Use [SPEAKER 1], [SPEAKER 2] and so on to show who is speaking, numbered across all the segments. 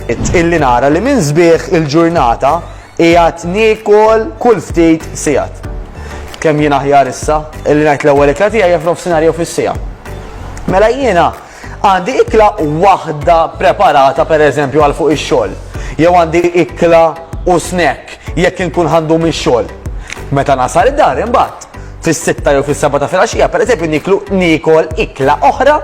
[SPEAKER 1] illi nara li minn sbieħ il-ġurnata qiegħed niekol kull ftit sigħat. Kemm jien aħjar issa illi ngħid l-ewwel ikla tiegħi jaf nofsinhar jew fis-siegħa. Mela jiena għandi ikla waħda preparata pereżempju għal fuq ix-xogħol. Jew għandi ikla u snack jekk inkun ħandu mix-xogħol. Meta nasal id-dar imbagħad fis-sitta jew fis-seba' ta' filgħaxija, pereżempju niklu niekol ikla oħra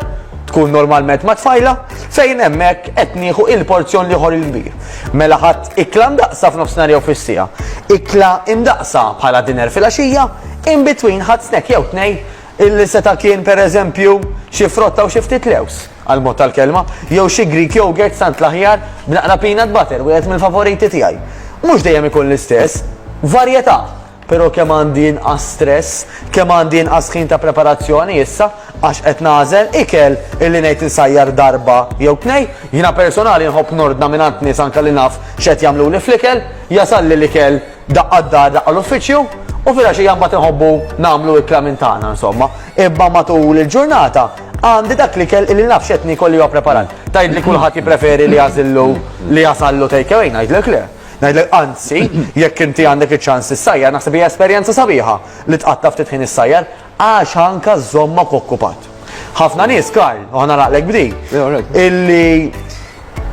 [SPEAKER 1] tkun normalment ma' tfajla, fejn hemmhekk qed nieħu il-porzjon li ħor il-kbir. Mela ħadd ikla ndaqsa f'nofsinhar jew fis-sija. Ikla indaqsa bħala dinner filgħaxija, in between ħadd snack jew tnej illi seta' kien pereżempju xi frotta u xi ftit lews għal-mod tal-kelma, jew xi Greek yogurt sant l-aħjar b'naqra peanut butter, wieħed mill-favoriti tiegħi. Mhux dejjem ikun l-istess, varjetà. Però kemm għandi inqas stress, kemm għandi inqas ħin ta' preparazzjoni issa għax qed nagħżel ikel illi ngħid insajjar darba jew tnej. Jiena personali nħobb nordna mingħand nies anke li naf x'qed jagħmluli fl-ikel, jasalli l-ikel daqqa d-dar daqqa l-uffiċċju u filgħaxija mbagħad inħobbu nagħmlu ikla minn tagħna insomma. Imma matul il-ġurnata għandi dak l-ikel illi naf x'qed niekol li huwa preparat. Tgħidli kulħadd jippreferi li jagħżillu li jasallu take away, ngħidlek le. Ngħidlek anzi, jekk inti għandek iċ-ċans issajjar, naħseb hija esperjenza sabiħa li tqatta' ftit ħin issajjar għax anka żżommok okkupat. Ħafna nies, Karl, u ħana naqlek b'di, illi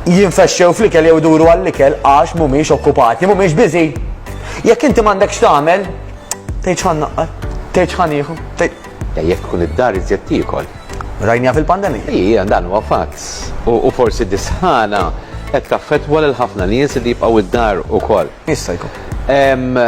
[SPEAKER 1] jinfexxew fl-ikel jew iduru għall-ikel għax mhumiex okkupati, mhumiex biżi. Jekk inti m'għandekx tagħmel, tgħid ħan naqqar, tgħid ħan ieħu, Jekk tkun
[SPEAKER 2] id-dar iżjed tiekol. Rajniha fil-pandemija.
[SPEAKER 1] Ija, dan huwa fatt.
[SPEAKER 2] U forsi dis-sħana qed taffettwa lil
[SPEAKER 1] ħafna
[SPEAKER 2] nies li jibqgħu d-dar ukoll.
[SPEAKER 1] Jista'
[SPEAKER 2] jkun.